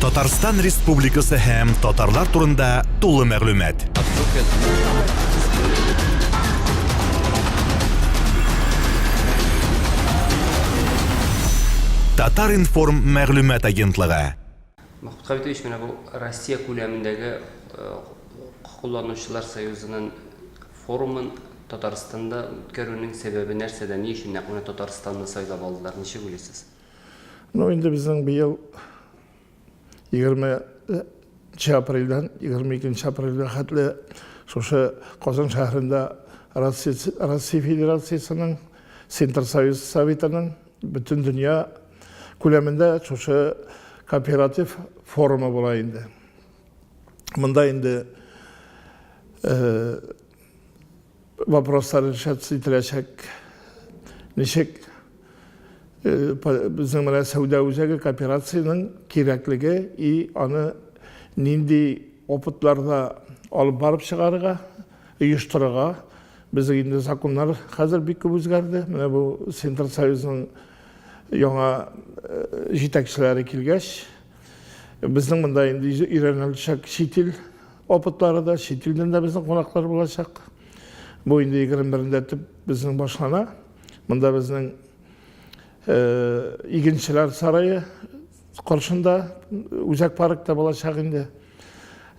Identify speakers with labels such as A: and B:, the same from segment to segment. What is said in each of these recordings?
A: Татарстан Республикасы һәм татарлар турында тулы мәгълүмат. Татар-информ мәгълүмат агентлыгы. Махмуд Хабитович,
B: менә бу Россия күләмендәге э, кулланучылар союзының форумын Татарстанда үткәрүнең сәбәбе нәрсәдә? Ни өчен нәкъ менә Татарстанны сайлап алдылар? Ничек уйлыйсыз? Ну, инде
C: безнең быел 20 апрельдән 22 апрельгә хәтле шушы Казан шәһәрендә Россия Федерациясенең Синтерсоюз Советының бөтен дөнья күләмендә шушы кооператив форумы була инде. Монда инде э, Вопрослар решаться ителәчәк. Ничек безнең менә сәүдә үзәге кооперациянең кирәклеге и аны нинди опытларда алып барып чыгарырга, оештырырга. Безнең инде законнар хәзер бик күп үзгәрде. Менә бу Центрсоюзның яңа җитәкчеләре килгәч, Безнең монда инде өйрәнеләчәк чит ил опытлары да, чит илдән дә безнең кунаклар булачак. Бу инде 21-нде төп безнең башлана. Монда безнең э, игенчеләр сарае каршында үзәк паркта булачак инде.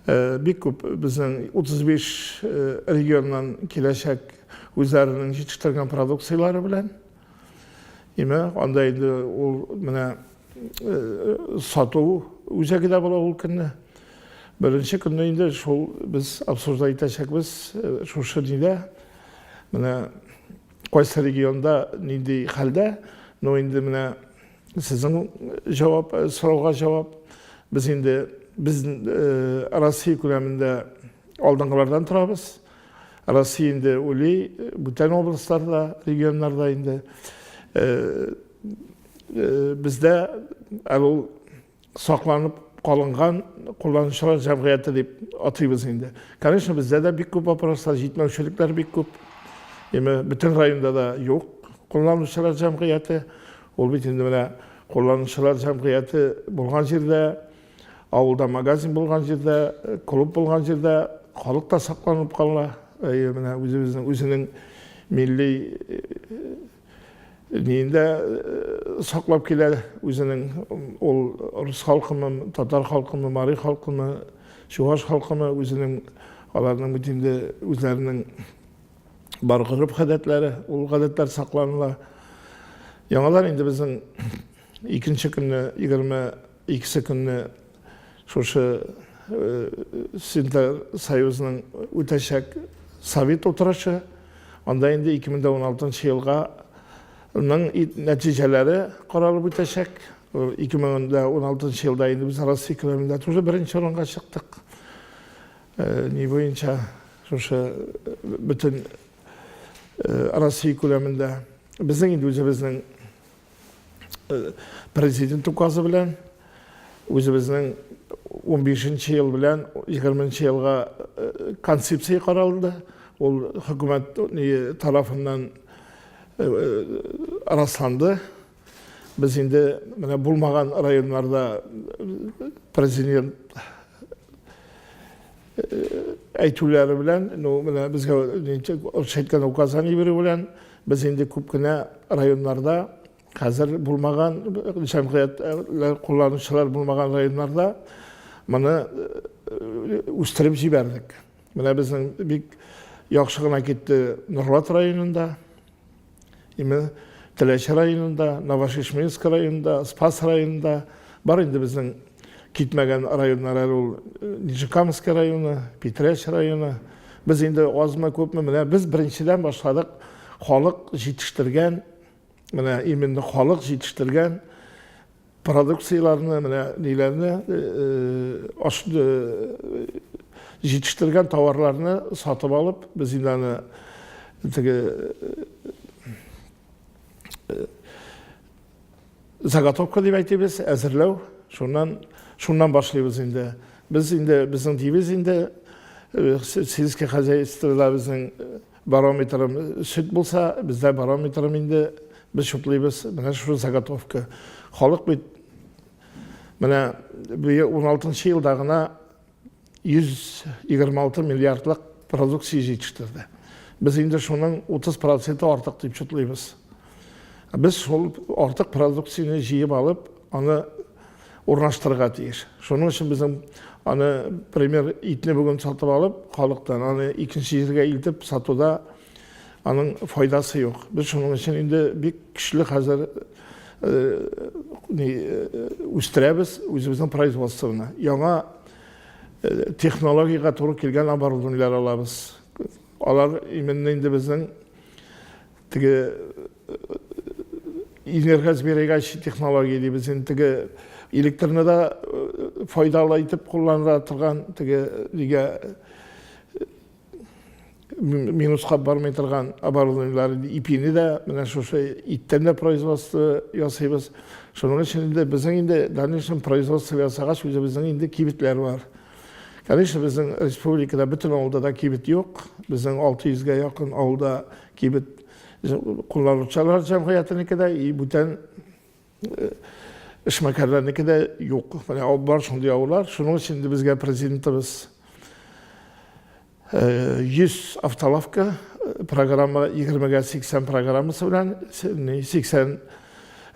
C: Э, бик күп безнең 35 э, регионнан киләчәк үзләренең җитештерген продукцияләре белән. Име, анда инде ул менә сату үзәге дә була ул көнне. Беренче көнне инде шул без обсуждать итәчәкбез шушы нидә. Менә кайсы регионда нинди хәлдә, но инде менә сезнең җавап, сорауга җавап. Без инде без Россия күләмендә алдынгылардан торабыз. Россия инде уйлый, бүтән областьларда, регионнарда инде. Бездә әле ул сакланып калынган кулланучылар җәмгыяте дип атыйбыз инде. Конечно, бездә дә бик күп вопрослар, җитмәүчелекләр бик күп. Димәк, бөтен районда да юк кулланучылар җәмгыяте. Ул бит инде менә кулланучылар җәмгыяте булган җирдә Авылда магазин булган җирдә, э, клуб булган җирдә халык та сакланып кала. Әйе, менә үзебезнең үзенең милли э, ниендә э, саклап килә үзенең ул рус халкымы, татар халкымы, мари халкымы, чуваш халкымы үзенең аларның бит инде үзләренең бар гореф гадәтләре, ул гадәтләр сакланыла. Яңалар инде безнең Икенче көнне, егерме икесе көнне шушы Синтер союзының үтәчәк совет утырышы, анда инде 2016 елга ның нәтиҗәләре каралып үтәчәк. 2016 елда инде без Россия күләмендә тоже беренче урынга чыктык. Ни буенча шушы бөтен Россия күләмендә. Безнең инде үзебезнең Президент указы белән үзебезнең 15 нче ел белән 20 нче елга концепция каралды. Ул хөкүмәт тарафыннан расланды. Без инде менә булмаган районнарда президент әйтүләре белән, ну, менә безгә рус әйткән указание бирү белән, без инде күп кенә районнарда, хәзер булмаган, җәмгыятьләр кулланучылар булмаган районнарда моны үстереп җибәрдек. Менә безнең бик яхшы гына китте Норлат районында. Именно Теләч районында, Новошишминск районында, Спас районында бар инде безнең китмәгән районнар әле ул э, Нижекамский районы, Питрәч районы. Без инде азмы күпме менә без беренчедән башладык халык җитештергән менә именно халык җитештергән Продукцияләрне, менә ниләрне, ашны җитештергән товарларны сатып алып, без инде аны теге заготовка дип әйтебез, әзерләү, шуннан шуннан башлыйбыз инде. Без инде безнең дивиз инде сельское хозяйствода безнең Барометрым сөт булса, бездә барометрым инде без чутлыйбыз. Менә шул заготовка. Халык бит менә 16 елда гына 126 миллиардлык продукция җитештерде. Без инде шуның 30 проценты артык дип чутлыйбыз. Без шул артык продукцияне җыеп алып, аны урнаштырырга тиеш. Шуның өчен безнең аны, пример, итне бүген сатып алып, халыктан аны икенче җиргә илтеп сатуда аның файдасы юк. Без шуның өчен инде бик көчле хәзер үстерәбез үзебезнең производствоны. Яңа технологиягә туры килгән оборудованиеләр алабыз. Алар именно инде безнең теге Инергаз бирегәч технология дибез инде теге электрны да э, файдалы итеп кулланыла торган теге нигә э, минуска бармый торган оборудованиелар ипине дә менә шушы иттән дә производство ясыйбыз шуның өчен инде безнең инде дальнейшем производство ясагач үзебезнең инде кибетләр бар конечно безнең республикада бөтен авылда да кибет юк безнең алты йөзгә якын авылда кибет Кулланучылар җәмгыятенеке дә, и бүтән эшмәкәрләрнеке дә юк. Менә бар шундый авыллар. Шуның өчен инде безгә президентыбыз 100 автолавка программа 20-гә 80 программасы белән 80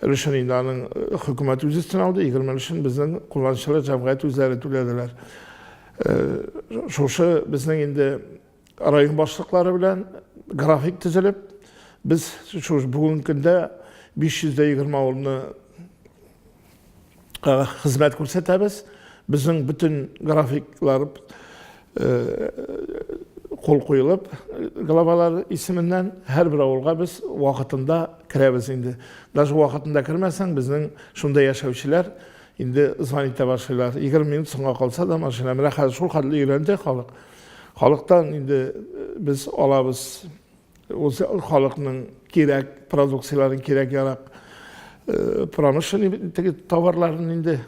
C: өлешен инде аның хөкүмәт үз өстенә алды, 20 өлешен безнең кулланучылар җәмгыять үзләре түләделәр. Шушы безнең инде Район башлыклары белән график төзелеп, без шул бүгенге көндә 520 авылны хезмәт күрсәтәбез. Безнең бөтен графиклар кул куелып, главалар исеменнән һәрбер авылга без вакытында керәбез инде. Даже вакытында кермәсәң, безнең шунда яшәүчеләр инде звонить итә башлыйлар. 20 минут соңга калса да машина. Менә хәзер шул хәтле өйрәнде халык. Халыктан инде без алабыз үз халыкның кирәк продукцияләрен, кирәк-ярак промышленный теге товарларын инде.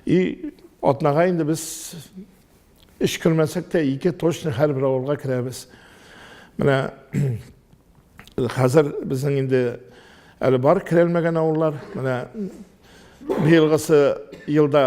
C: И атнага инде без өч кермәсәк тә, ике точно һәрбер авылга керәбез. Менә хәзер безнең инде әле бар керәлмәгән авыллар. Менә быелгысы елда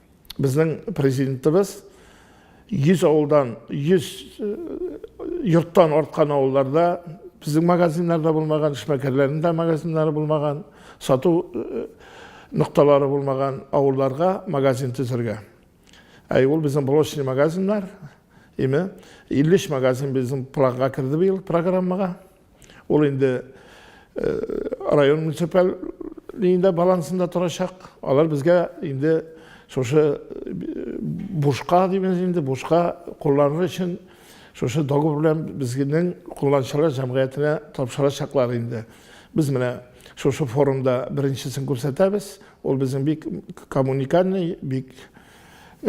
C: Безнең президентыбыз 100 авылдан, 100 э, йорттан арткан авылларда безнең магазиннарда булмаган, эшмәкәрләрнең дә магазиннары булмаган, сату э, нокталары булмаган авылларга магазин төзергә. Әй ул безнең блочный магазиннар, име 53 магазин безнең планга керде быел программага. Ул инде район муниципаль линияда балансында торачак. Алар безгә инде шушы бушка дибез инде, бушка кулланыр өчен шушы договор белән безнең кулланучылар җәмгыятенә тапшырачаклар инде. Без менә шушы форумда беренчесен күрсәтәбез. Ул безнең бик коммуникальный, бик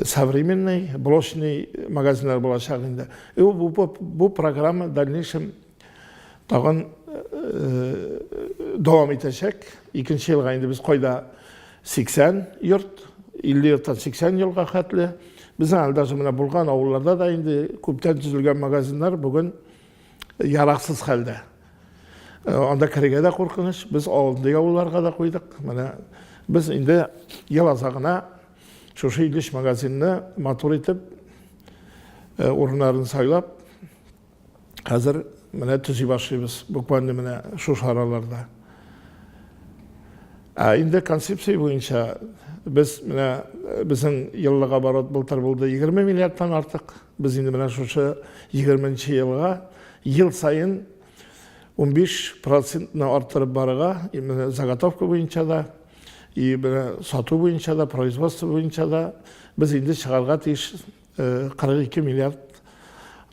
C: современный блочный магазиннар булачак инде и бу, бу, бу программа дальнейшем тагын э, дәвам итәчәк икенче елга инде без кайда 80 йорт 50 йорттан 80 елга хәтле безнең әле даже менә булган авылларда да инде күптән төзелгән магазиннар бүген яраксыз хәлдә э, анда керергә дә куркыныч без андый авылларга да куйдык менә без инде ел азагына Шушы Илеш магазинны матур итеп, э, урыннарын сайлап, хәзер менә төзи башлыйбыз, буквально менә шушы араларда. Ә инде концепция буенча без менә э, безнең еллык оборот былтыр булды 20 миллиардтан артык. Без инде менә шушы 20 елга ел саен 15 процентны арттырып барырга, именно заготовка буенча да, И менә сату буенча да, производство буенча да без инде чыгарга тиеш 42 миллиард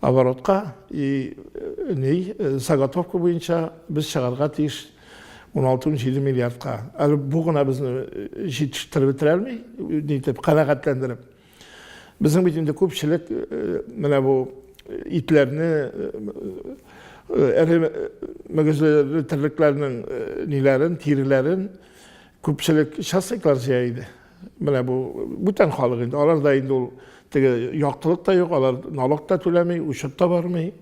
C: оборотка и э, ней э, заготовка буенча без чыгарга тиеш 16-17 миллиардка. Әле бу гына безне э, җитештереп бетерә алмый, нитеп, канәгатьләндереп. Безнең бит инде күпчелек менә бу итләрне эре мөгезле терлекләрнең ниләрен, тиреләрен күпчелек частниклар җыя иде. Менә бу бүтән халык инде, аларда инде ул теге яктылык та юк, алар налог та түләми, учет та бармый,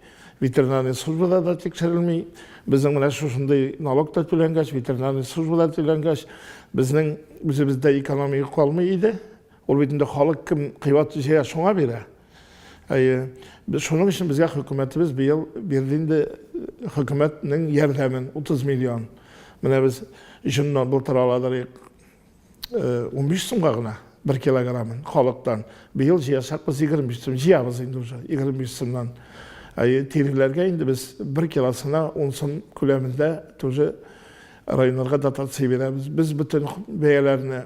C: ветеринарный службада да тикшерелми. Безнең менә шушындый налог та түләнгәч, ветеринарный службада түләнгәч, безнең үзебездә экономия калмый иде. Ул бит инде халык кем кыйбат җыя, шуңа бирә. Әйе. Без шуның өчен безгә хөкүмәтебез быел бирде инде хөкүмәтнең ярдәмен 30 миллион. Менә без җоннан былтыр аладырык 15 сумга гына бер килограммын халыктан. Быел җыячакбыз 25 сум, җыябыз инде уже 25 сумнан. Әйе, тиреләргә инде без бер килосына 10 сум күләмендә тоже районнарга дотация бирәбез. Без бөтен бәяләрне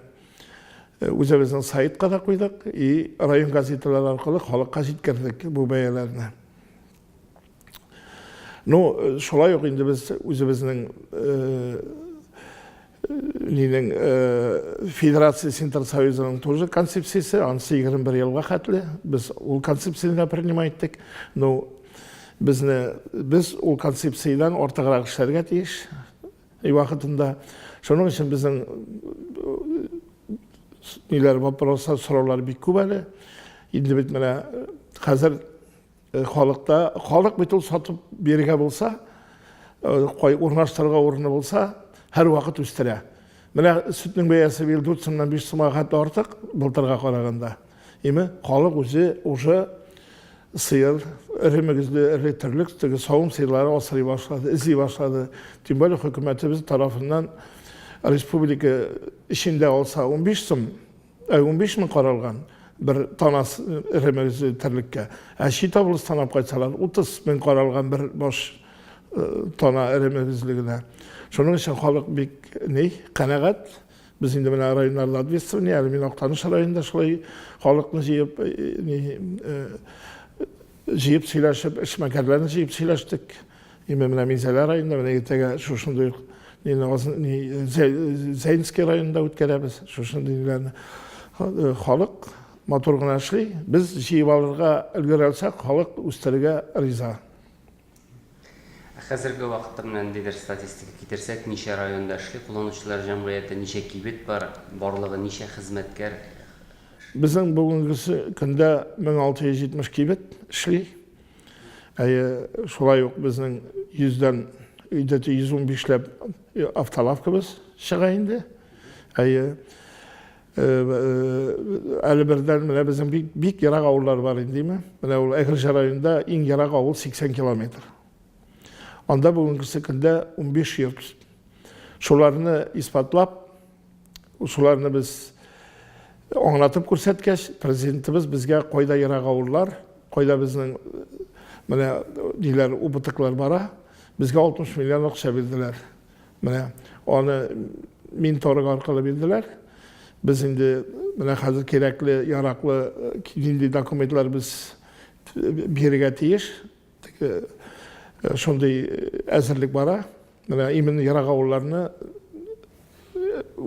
C: үзебезнең сайтка да куйдык и район газеталары аркылы халыкка җиткердек бу бәяләрне ну шулай ук инде без үзебезнең нинең федерация синтер союзының тоже концепциясе анысы егерме бер елга хәтле без ул концепцияны да принимай иттек ну безне без ул концепциядән артыграк эшләргә тиеш И вакытында шуның өчен безнең ниләр вопрослар, сораулар бик күп әле. Инде бит менә хәзер халыкта, халык бит ул сатып бирергә булса, кай урнаштырырга урыны булса, һәр вакыт үстерә. Менә сөтнең бәясе быел 4 сумнан 5 сумга хәтта артык былтырга караганда. Име, халык үзе уже сыер, эре мөгезле, эре терлек, теге савым сыерлары асрый башлады, эзли башлады. Тем более хөкүмәтебез тарафыннан республика эчендә алса 15 сум, ә 15 мең каралган бер танас эре мөгезле терлеккә. Ә чит облыстан алып кайтсалар 30 мең каралган бер баш тана эре мөгезле генә. Шуның өчен халык бик ни, канәгать. Без инде менә районнарда ответственный, әле мин Актаныш районында шулай халыкны җыеп, җыеп сөйләшеп, эшмәкәрләрне җыеп сөйләштек. Именно менә Минзәлә районында, менә иртәгә шушындый ук Зәйнский районында үткәрәбез шушындый ниләрне. Халык матур гына эшли, без җыеп алырга өлгерә алсак, халык үстерергә риза. Ә
B: хәзерге вакытта менә ниндидер статистика китерсәк, ничә районда эшли, кулланучылар җәмгыяте, ничә кибет бар, барлыгы ничә хезмәткәр?
C: Безнең бүгенге көндә 1670 кибет эшли. Әйе, шулай ук безнең 100 дән өйдәте 115 ләп автолавкабыз чыга инде. Әйе. Әле бердән менә безнең бик, бик ерак авыллар бар инде, димә. Менә ул Әгерҗе районында иң ерак авыл 80 километр. Анда бүгенгесе көндә 15 йорт. Шуларны исбатлап, шуларны без аңлатып күрсәткәч, президентыбыз безгә кайда ерак авыллар, кайда безнең менә диләр убытыклар бара, безгә 60 миллион акча бирделәр. Менә аны мин торык аркылы бирделәр. Без инде менә хәзер кирәкле, яраклы э, нинди документлар без э, бирергә тиеш. Э, шундый әзерлек бара. Менә именно ерак авылларны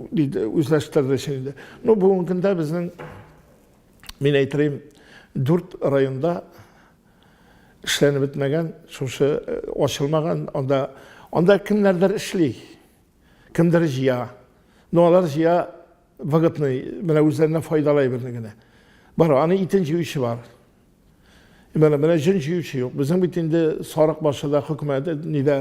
C: үзләштерде инде. Ну, бүгенге көндә безнең мин әйтәм, дүрт районда Эшләнеп бетмәгән, шушы э, ачылмаган, анда анда кемнәрдер эшли, кемдер җыя. Но алар җыя выгодный, менә үзләренә файдалы әйберне генә. Бар, аны итен җыючы бар. И менә менә җен җыючы юк. Безнең бит инде сарык башы да хөкүмәт нидә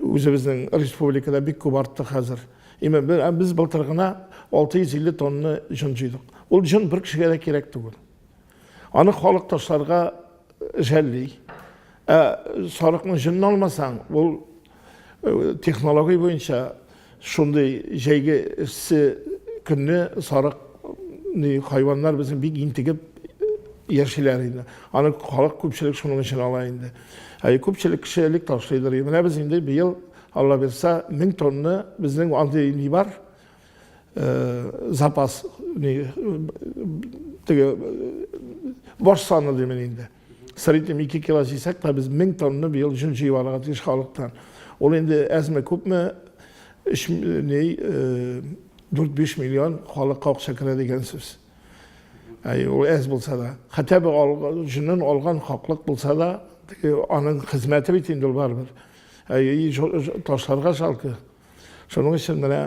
C: үзебезнең республикада бик күп артты хәзер. И менә без былтыр гына 650 тонна җын җыйдык. Ул җын бер кешегә дә кирәк түгел. Аны халык ташларга жәлли. Ә сарыкның җынын алмасаң, ул технология буенча шундый җәйге эссе көнне сарык хайваннар безнең бик интегеп яшиләр инде. Аны халык күпчелек шуның өчен ала инде. Ә күпчелек кеше элек ташлыйдыр. Менә без инде быел, Алла бирса, 1000 тонна безнең андый ни бар. запас теге баш саны димени инде среднем ике кило җыйсак та без мең тонна быел җөн җыеп алырга тиеш халыктан ул инде әзме күпме өч ней дүрт биш миллион халыкка акча керә дигән сүз ул әз булса да хәтта бер җөнен алган хаклык булса да аның хезмәте бит инде ул барыбер ташларга жалко Шуның өчен менә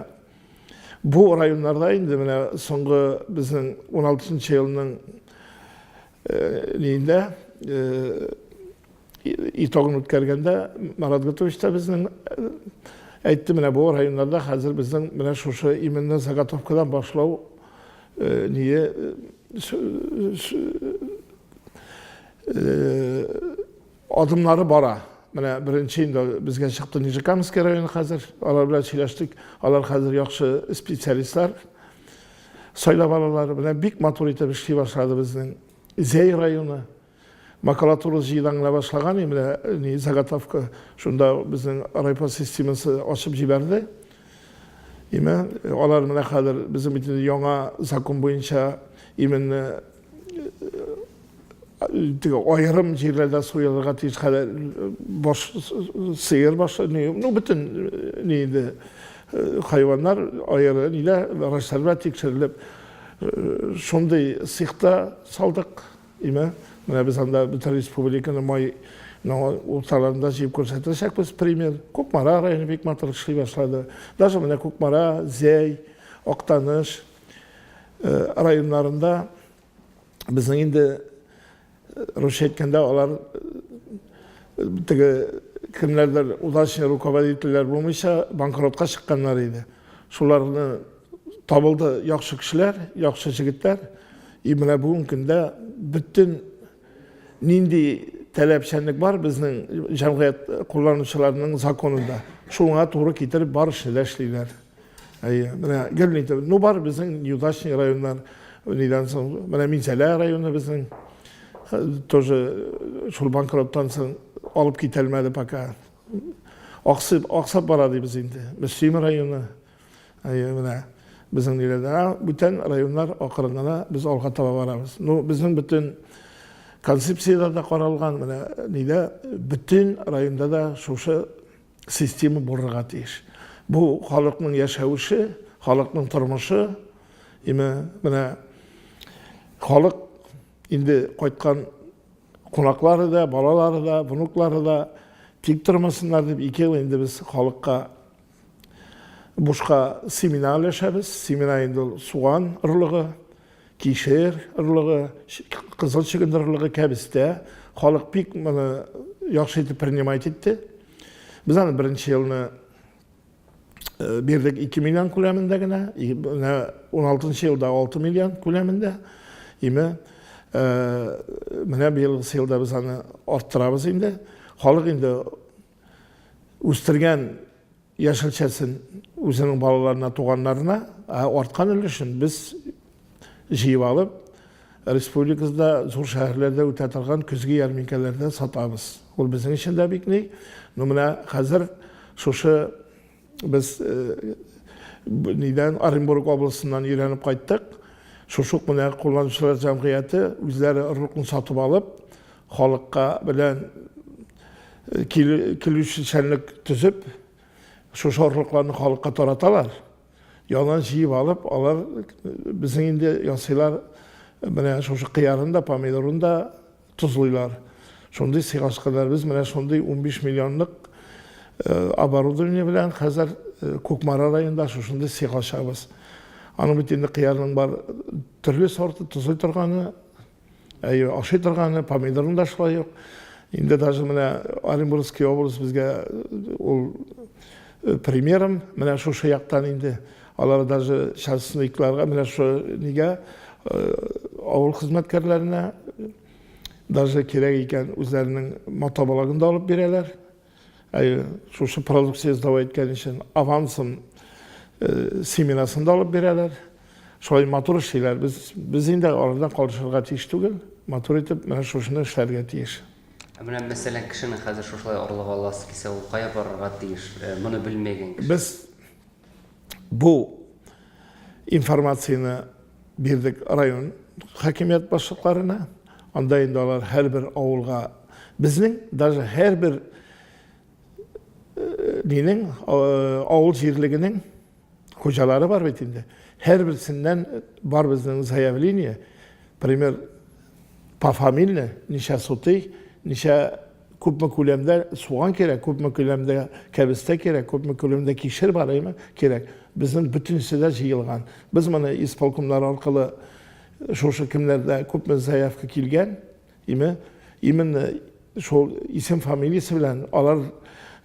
C: бу районнарда инде менә соңгы безнең 16 елның э, нидә э, итогын үткәргәндә Марат Гатович та безнең э, әйтте менә бу районнарда хәзер безнең менә шушы именно заготовкадан башлау ние Адымнары бара. Менә беренче инде безгә чыкты Нижекамский районы хәзер. Алар белән сөйләштек. Алар хәзер яхшы специалистлар сайлап алалар. Менә бик матур итеп эшли башлады безнең Зәй районы. Макулатура җыйдаңына башлаган, менә ни заготовка шунда безнең райпо системасы ачып җибәрде. Имә алар менә хәзер безнең бит яңа закон буенча именно теге аерым җирләрдә суелырга тиеш хәләл баш сыер башы не ну бөтен не инде хайваннар аеры нилә врачларга тикшерелеп шундый сихта салдык имә менә без анда бөтен республиканы май урталарында җыеп күрсәтәчәкбез пример кукмара районы бик матур эшли башлады даже менә кукмара зәй актаныш районнарында безнең инде русча әйткәндә алар теге кемнәрдер удачный руководительләр булмыйча банкротка чыкканнар иде шуларны табылды яхшы кешеләр яхшы җегетләр и менә бүгенге көндә бөтен Нинди таләпчәнлек бар безнең җәмгыять кулланучыларының законында? Шуңа туры китереп барышны да эшлиләр. Әйе, менә гел ни ну бар безнең неудачный районнар, нидән соң, менә Минзәлә районы безнең тоже э, шул банкроттан соң алып китәлмәде пока. Аксып, аксап бара дибез инде. Мөслим районы, Әйе, менә безнең нигәдә. Бүтән районнар акырын гына без алга таба барабыз. Ну, безнең бөтен концепциядә дә каралган, менә нидә, бөтен районда да шушы система булырга тиеш. Бу халыкның яшәвеше, халыкның тормышы, име, менә халык инде кайткан кунаклары да, балалары да, внуклары да тик тормасыннар дип, ике ел инде без халыкка Бушка семена өләшәбез. Семена инде ул суган орлыгы, кишер орлыгы, кызыл чөгендер орлыгы, кәбестә. Халык бик моны яхшы итеп принимать итте. Без аны беренче елны э, бирдек 2 миллион күләмендә генә, 16 елда 6 миллион күләмендә. Име э, менә быелгы елда без аны арттырабыз инде. Халык инде үстергән яшелчәсен үзенең балаларына, туганнарына, ә арткан өлешен без җыеп алып, республикабызда зур шәһәрләрдә үтә торган көзге ярминкәләрдә сатабыз. Ул безнең өчен дә бик ни. Ну менә хәзер шушы Без нидән Оренбург областеннан өйрәнеп кайттык. Шушы ук менә кулланучылар җәмгыяте үзләре орлыкны сатып алып, халыкка белән килүчәнлек төзеп, шушы орлыкларны халыкка тараталар. Яна җыеп алып, алар безнең инде ясыйлар. Менә шушы кыярын да, помидорын да Тозлыйлар. Шундый сыйгаскәләребез менә шундый унбиш миллионлык оборудование белән хәзер Кукмара районында шушындый сыйга ачабыз. Аның бит инде кыярның бар төрле сорты, тозлый торганы, әйе, ашый торганы, помидорның да шулай ук. Инде даже менә Оренбургский область безгә ул примером, менә шушы яктан инде Алар даже частникларга, менә шо нигә авыл хезмәткәрләренә даже кирәк икән үзләренең мотобалагын да алып бирәләр. Әйе, шушы продукция сдавай иткән өчен авансым семенасын да алып бирәләр. Шулай матур эшлиләр. Без без инде алардан калышырга тиеш түгел. Матур итеп менә шушыны эшләргә тиеш. Ә менә мәсәлән,
B: кешене хәзер шушылай орлык аласы кисә, ул кая барырга тиеш? Моны белмәгән кеше. Без
C: Бу информацияне бирдек район хакимият башлыкларына. Анда инде алар һәрбер авылга безнең даже һәрбер э, нинең э, авыл җирлегенең хуҗалары бар бит инде. Һәрберсеннән бар безнең заявление, пример пофамильно, ничә сутый, ничә күпме күләмдә суган кирәк, күпме күләмдә кәбестә кирәк, күпме күләмдә кишер барыймы кирәк. Безнең бөтенесе дә җыелган. Без моны исполкомнар аркылы э, шушы кемнәрдә күпме заявка килгән, име, именно шул исем фамилиясе белән алар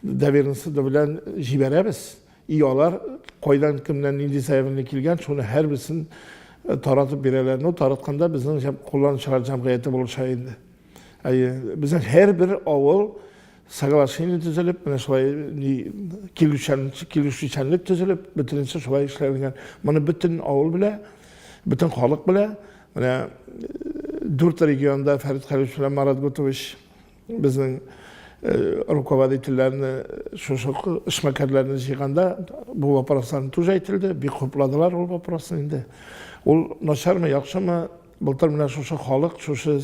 C: доверенности белән җибәрәбез. И алар кайдан кемнән нинди заявление килгән, шуны һәрберсен э, таратып бирәләр. Ну, таратканда безнең җәм- кулланучылар җәмгыяте булыша инде. Әйе, безнең һәрбер авыл соглашение төзелеп, менә шулай килешүчәнлек төзелеп, бөтенесе шулай эшләнгән. Моны бөтен авыл белә, бөтен халык белә. Менә дүрт регионда Фәрит Хәлич белән Марат Гутович безнең руководительләрне, шушы эшмәкәрләрне җыйганда бу вопросларны тоже әйтелде, бик хупладылар ул вопросны инде. Ул начармы, яхшымы, Былтыр менә шушы халык, шушы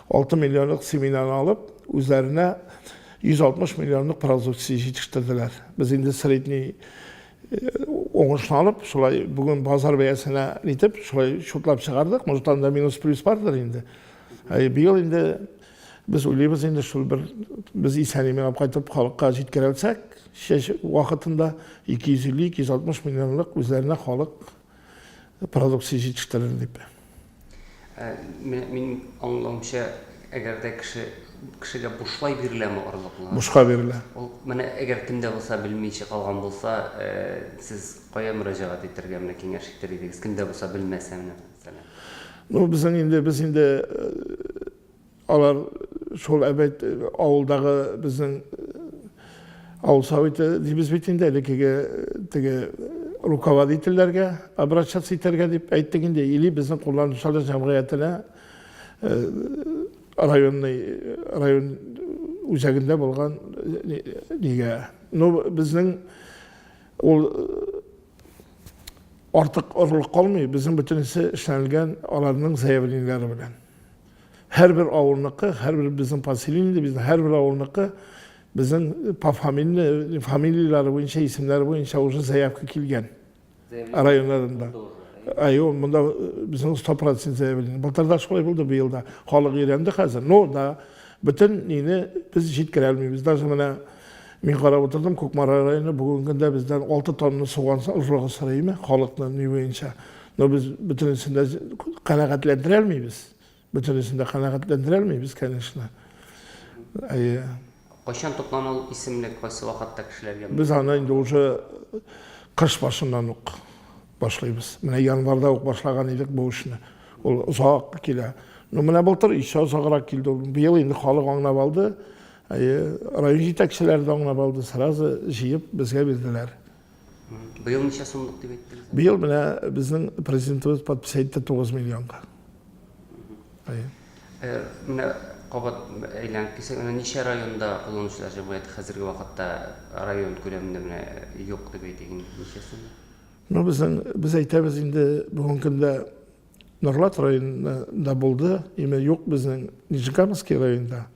C: 6 миллионлык семенаны алып, үзләренә 160 миллионлык продукция җитештерделәр. Без инде средний уңышны алып, шулай бүген базар бәясенә итеп, шулай шутлап чыгардык. Может, анда минус-плюс бардыр инде. Ә быел инде без уйлыйбыз инде шул бер без исән-имин алып кайтып халыкка җиткерәлсәк, чәч вакытында 250-260 миллионлык үзләренә халык продукция җитештерер дип. Ә, менә
B: минем аңлавымча, әгәр дә кеше кешегә бушлай биреләме орлыклар? Бушка бирелә. Ул
C: менә әгәр
B: кемдә булса белмичә калган булса, э, сез кая мөрәҗәгать итәргә менә киңәш итер идегез? Кемдә булса белмәсә менә. Ну, безнең
C: инде без инде э, Алар шул әбәйт авылдагы безнең авыл советы дибез бит инде элеккеге теге руководительләргә обращаться итәргә дип әйттек инде или безнең кулланучылар җәмгыятенә районный район үзәгендә булган нигә ну безнең ул артык орлык калмый безнең бөтенесе эшләнелгән аларның заявлениеләре белән Һәрбер авылныкы, һәрбер безнең поселениедә, безнең һәрбер авылныкы безнең по фамилии, фамилияләре буенча, исемнәре буенча уже заявка килгән. Районнарында. Айо, монда безнең 100% заявление. Былтырда шулай булды, быел да. Халык өйрәнде хәзер. Но да бөтен нине без җиткерә алмыйбыз. Даже менә мин карап утырдым, Кукмара районы бүгенге көндә бездән 6 тонна суган ожрыгы сорыймы халыкны ни буенча. Но без бөтенесен дә канәгатьләндерә алмыйбыз. Бөтенесен дә канәгатьләндерә алмыйбыз, конечно. Әйе.
B: Кайчан тоткан ул исемлек, кайсы вакытта кешеләргә? Без аны инде уже
C: кыш башыннан ук башлыйбыз. Менә январда ук башлаган идек бу эшне. Ул озак килә. Ну, менә былтыр еще озаграк килде. Быел инде халык аңлап алды. Әйе, район җитәкчеләре дә аңлап алды, сразу җыеп безгә бирделәр. Быел
B: ничә сумлык дип әйттегез? Быел менә
C: безнең президентыбыз подпись әйтте 9 миллионга. Әйе.
B: Э, менә кабат әйләнеп килсәк, менә ничә районда кулланучылар җәмгыяте хәзерге вакытта район күләмендә менә юк дип әйтик инде. Ничәсе? Ну, безнең
C: без әйтәбез инде бүгенге көндә Норлат районында булды, име юк безнең Нижнекамский районда.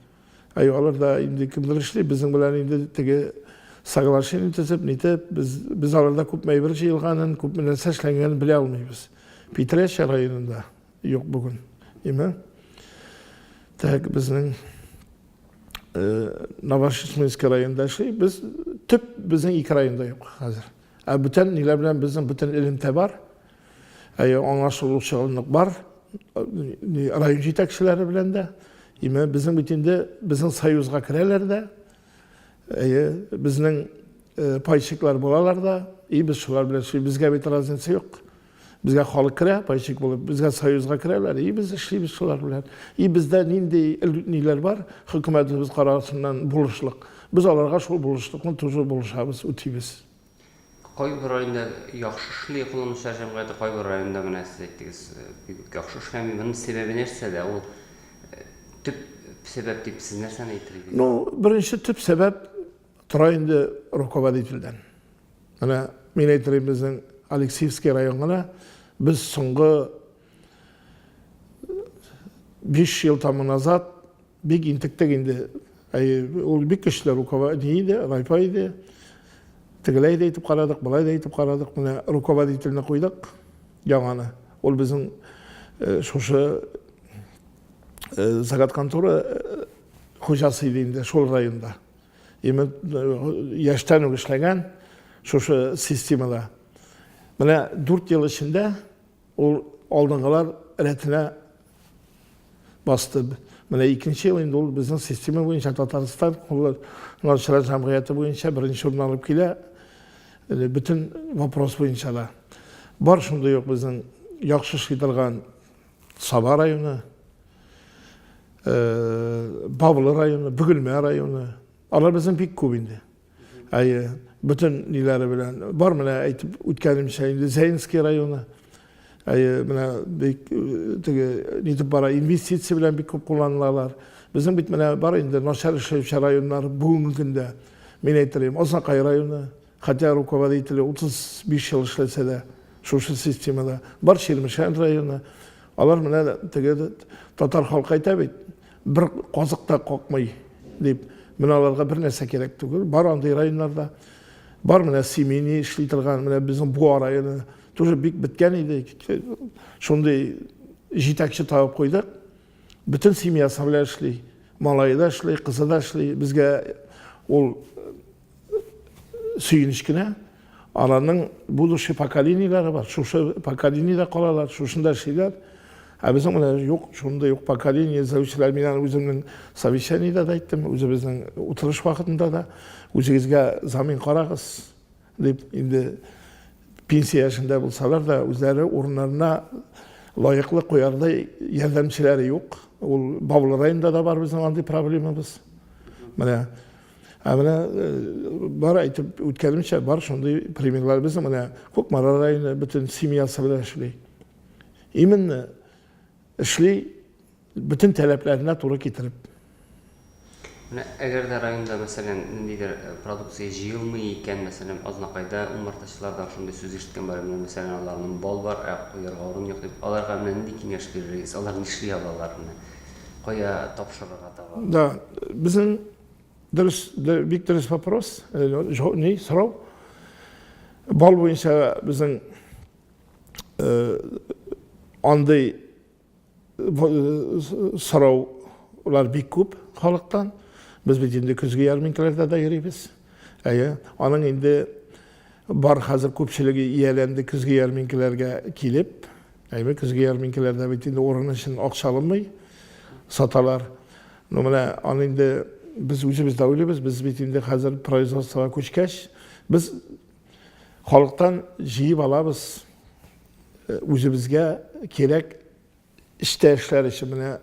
C: Әй, алар да инде кемдер эшли, безнең белән инде теге соглашение төзеп, нитеп, без, без аларда күпме әйбер җыелганын, күпме нәрсә эшләнгәнен белә алмыйбыз. Питрәчә районында юк бүген. Име? Тәк безнең э, Новошишминск районында эшли, без төп безнең ике районда юк хәзер. Ә бүтән ниләр белән безнең бүтән элемтә бар. Әйе, аңа шулчалык бар. Район җитәкчеләре белән дә. Име, безнең бит инде безнең союзга керәләр дә. Әйе, безнең э, пайщиклар булалар да. И без шулар белән эшли. Безгә бит разница юк. Безгә халык керә, пайщик булып, безгә союзга керәләр. И без эшлибез шулар белән. И бездә нинди ниләр бар? Хөкүмәтебез карарсыннан булышлык. Без аларга шул булышлыкны тоже булышабыз, үтибез.
B: Кайбер районда яхшы эшли экономчылар җәмгыяте, кайбер районда менә сез әйттегез, бик үк яхшы эшли. Моның сәбәбе нәрсәдә? Ул төп сәбәп дип сез нәрсәне әйтер идегез? Ну, беренче
C: төп сәбәп тора инде руководительдән. Менә мин әйтер идем, безнең Алексеевский район гына без соңгы Биш ел тамы назад бик интектек инде. Ул бик көчле руководитель иде, райпа иде. Тегеләй дә итеп карадык, былай да итеп карадык. Менә руководительне куйдык яңаны. Ул безнең э, шушы э, загат контора э, хуҗасы иде инде шул районда. Именно яшьтән үк эшләгән шушы системада. Менә дүрт ел эчендә Ул алдынгылар рәтенә басты. Менә икенче ел инде ул безнең система буенча Татарстан кулланучылар җәмгыяте буенча беренче урын алып килә. Бөтен вопрос буенча да. Бар шундый ук безнең яхшы эшли торган Саба районы, Бавлы районы, Бөгелмә районы. Алар безнең бик күп инде. әйе бөтен ниләре белән бар менә әйтеп үткәнемчә инде зәйнский районы әйе менә бик теге нитеп бара инвестиция белән бик күп кулланылалар безнең бит менә бар инде начар эшләүче районнар бүгенге көндә мин әйтерем азнакай районы хотя руководители утыз биш ел эшләсә дә шушы системада бар чирмешән районы алар менә теге татар халкы әйтә бит Бер казык та какмый, дип, менә аларга бер нәрсә кирәк түгел. Бар андый районнарда. Бар менә семейный эшли торган, менә безнең Буа районы тоже бик беткән иде. Шундый җитәкче табып куйдык. Бөтен семьясы белән эшли. Малае да эшли, кызы да эшли. Безгә ул сөенеч кенә аларның будущий поколениеләре бар шушы поколениедә калалар шушында эшлиләр ә безнең менә юк шундый юк поколение эзләүчеләр мин аны үземнең совещаниедә дә әйттем үзебезнең утырыш вакытында да үзегезгә замин карагыз дип инде пенсия яшендә булсалар да үзләре урыннарына лаеклы куярдай ярдәмчеләре юк ул бавыл районында да бар безнең андый проблемабыз менә Ә менә э, бар әйтеп үткәнемчә, бар шундый примерлар безнең менә Кукмара районы бөтен семьясы белән эшли. Именно эшли бөтен таләпләренә туры китереп. Менә әгәр
B: дә районда, мәсәлән, ниндидер э, продукция җыелмый икән, мәсәлән, Азнакайда умартачылардан шундый сүз ишеткән бар, менә мәсәлән, аларның бал бар, ә куярга урын юк дип, аларга менә нинди киңәш биререгез, алар нишли алалар менә? кая тапшырырга таба? Да, безнең
C: дөрес, бик дөрес вопрос, э, не, сорау. Бал буенча безнең э, андый э, сораулар бик күп халыктан. Без бит инде көзге ярминкаларда да йөрибез. Әйе, аның инде бар хәзер күпчелеге ияләнде көзге ярминкаларга килеп, Әйбәт, көзге ярминкәләрдә бит инде урын өчен акча алынмый, саталар. Ну, менә аны инде без үзебез дә уйлыйбыз, без бит инде хәзер производствога күчкәч, без халыктан җыеп алабыз э, үзебезгә кирәк эштә эшләр өчен. Менә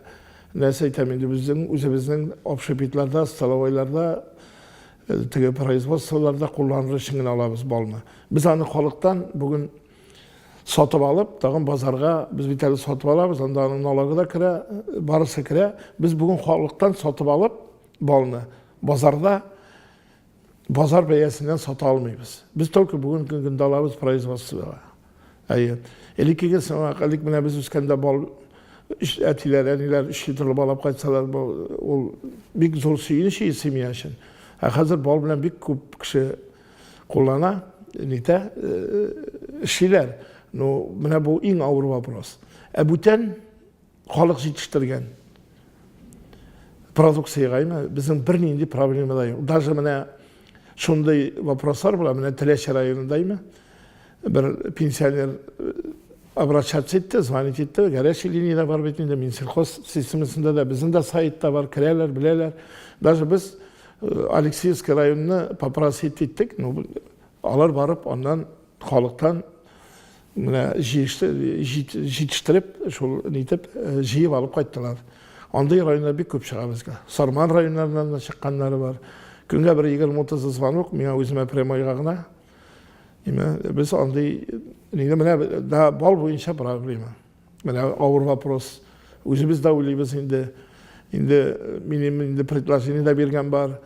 C: нәрсә әйтәм инде, безнең үзебезнең общепитларда, столовойларда, э, теге производстволарда кулланыр өчен генә алабыз балны. Без аны халыктан бүген сатып алып, тагын базарга без бит әле сатып алабыз, анда аның налогы да керә, барысы керә. Без бүген халыктан сатып алып балны базарда базар бәясеннән сата алмыйбыз. Без только бүгенге көндә алабыз производствога. Әйе. Элеккеге сымак, элек менә без үскәндә бал әтиләр, әниләр 3 литрлы бал алып кайтсалар, ул бик зур сөенеч семья өчен. Ә хәзер бал белән бик күп кеше Куллана, нитә, эшлиләр. Ну, менә бу иң авыр вопрос. Ә бүтән халык җитештергән продукциягә имә безнең бернинди проблема да юк. Даже менә шундый вопрослар була, менә Теләче районында имә Бер пенсионер обращаться итте, звонить итте, горячий линия да бар бит инде, Минсельхоз системасында да, безнең дә сайтта бар, керәләр, беләләр. Даже без э, Алексеевский районны попросить иттек, ну, алар барып, аннан халыктан менә җитештереп, шул нитеп, э, җыеп алып кайттылар. Андый районда бик күп чыга безгә. Сарман районнарыннан да чыкканнары бар. Көнгә бер 20-30 звонок, миңа үземә прямойга гына Димә, без андый нигә менә да бал буенча проблема. Менә авыр вопрос. Үзебез дә уйлыйбыз инде. Инде минем инде предложение дә биргән бар.